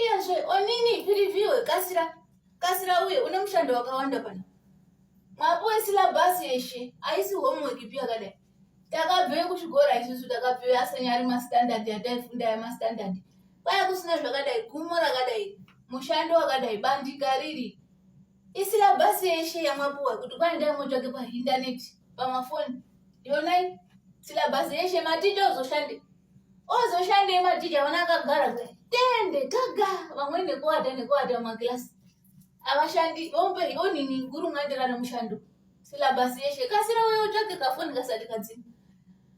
Iyazve onini piriviwe kasira kasira uye une mushando wakawanda pano. Mwapuwe silabhasi yeshe haisi homework ipi yakadai. Takabveyo kuchikora isusu takabveyo asanyari mastandard yataifunda yamastandard. Kwaya kusina zvakadai gumo rakadai mushando wakadai bandika riri. Isilabhasi yeshe yamwapuwa kuti kwai ndai motsvake pahindaneti pamafoni. Yonai silabhasi yeshe maticha uzoshande. ozoshandei matija vana akagara kudai tende kaga vamwe nekuwata nekuwata mumakilasi avashandi vombe onini guru mwaenderana mushando silabasi yeshe kasira uye utsvake kafoni kasati kadzima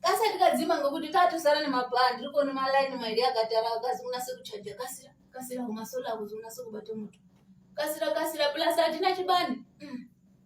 kasati kadzima ngokuti tatosara nemaplan tiri kuona malaini maidi akatara akazi kunase kuchaja kasira kasira umasola akuzi unase kubata moto kasira kasira plus hatina chibani mm.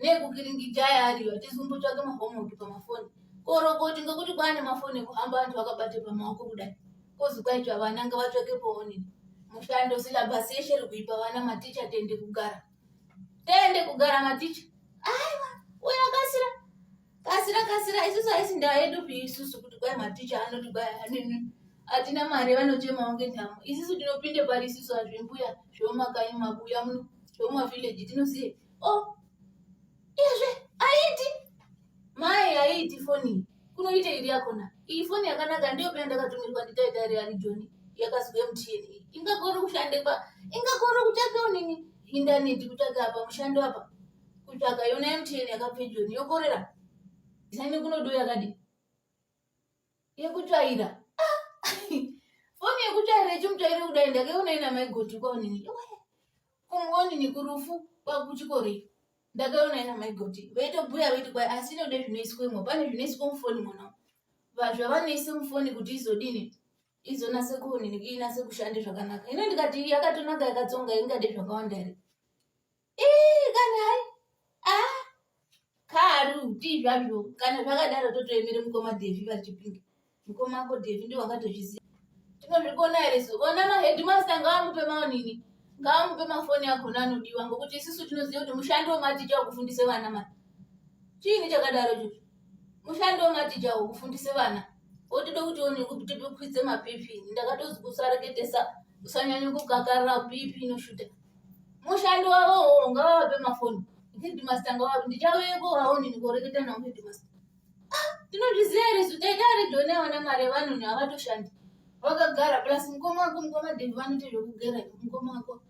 nekukiringijaya ariyo atizumbotsvake mahomework pamafoni korokoti ngokuti kwane mafoni ekuhamba vantu vakabate pamaoko kudai kozi kwaitwa vana ngavatsvake poonini mushando silabhasi yeshe iri kuipa vana maticha tende kugara tende kugara maticha aiwa uyo akasira kasira kasira isusu haisi ndaa yedu pi isusu kuti kwai maticha anoti kwai anini hatina mari vanochemawo ngenhamo isusu tinopinde pari isusu hazvimbuya zvemumakanyi mabuya muno zvemumavillaji tinoziva oh iyezve aiti mai aiti foni kunoita iri yakona iyi foni yakanaka ndiyo pena ndakatumirwa nditaita iri ari joni yakazwe mutini ingakone kushande pa ingakone kutsvaka nini indaneti kutsvaka apa mushando apa kutsvaka yona mtn yakapfe joni yokorera zane kunodo yakadii yekutsvaira foni yekutsvaira ichimutsvaira kudai ndakaiona ina maigoti kwaonini kungonini kurufu kwakuchikori ndakaiona ina maigoti vaitobhuya vaiti kwai asi inode zvinoiswemo pane zvinoiswa mufoni mona zvavanoisa mufoni kuti izodini izonase kuonini inase kushande zvakanaka ino ndikati yakatonaka yakatsonga ingade zvakawanda here ii kana hai ah karu tii zvazvo kana zvakadaro totoemere mukoma devi vari chipinge mukoma ako devi ndiwo akatozviziva tinozvikuona here so ona mahedmaster ngaamupe maonini ngaamupe mafoni akona anodiwa ngokuti isusu tinoziva kuti mushandi wematicha wekufundisa vana ma chiini chakadaro cho mushandi wematicha wekufundisa vana wotoda kuti one kutipikwidze mapipi ndakatozi kusareketesa usanyanya kukakarira pipi inoshuta mushandi wavo uwo ngavavape mafoni headmaster ngavavape ndichauyeko haoni ndikoreketa navo headmaster ah, tinozviziva here su taita redio neavana mari yevanhu neavatoshandi vakagara plus mukoma wako mukoma devi vanoita zvekugera mukoma wako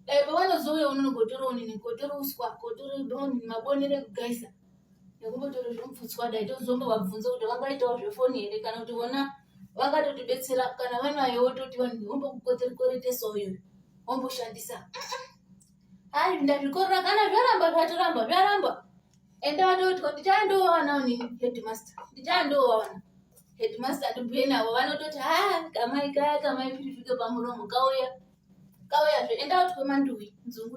dai pavanozouya unonogotora unini kotora uswa kotora mabonere ekugaisa nekumbotora zvomupfutswa dai tozombovabvunza kuti vangaitawo zvefoni here kana kuti vona vakatotibetsera kana vanayo wototi vanhu vombokukotikoretesa uyu womboshandisa hayi ndazvikorera kana zvaramba zvatoramba zvaramba enda vatotwa ndichandowana ni headmaster ndichandowana headmaster ndibhuye navo vanototi ha kamai kaya kamai pirifike pamuromo kauya kauyazve enda utwe manduwi nzungu